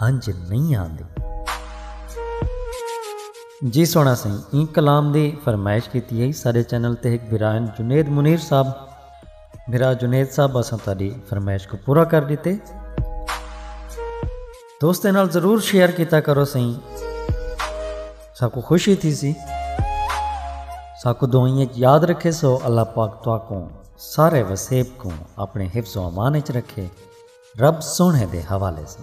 ہنج نئیں آندے۔ جی سوہݨا سئیں ایں کلام دی فرمائش کیتی ہئی ساݙے چینل تے ہک بھراہن جنید منیر صاحب بھرا جنید صاحب اساں تہاݙی فرمائش کوں پورا کر ݙتے دوستاں نال ضرور شیئر کیتا کرو سئیں ساکوں خوشی تھیسی ساکوں دعائیں وچ یاد رکھے سو اللہ پاک تہاکوں سارے وسیب کوں اپݨے حفظ و امان وچ رکھے۔ رب سوہݨے دے حوالے سن۔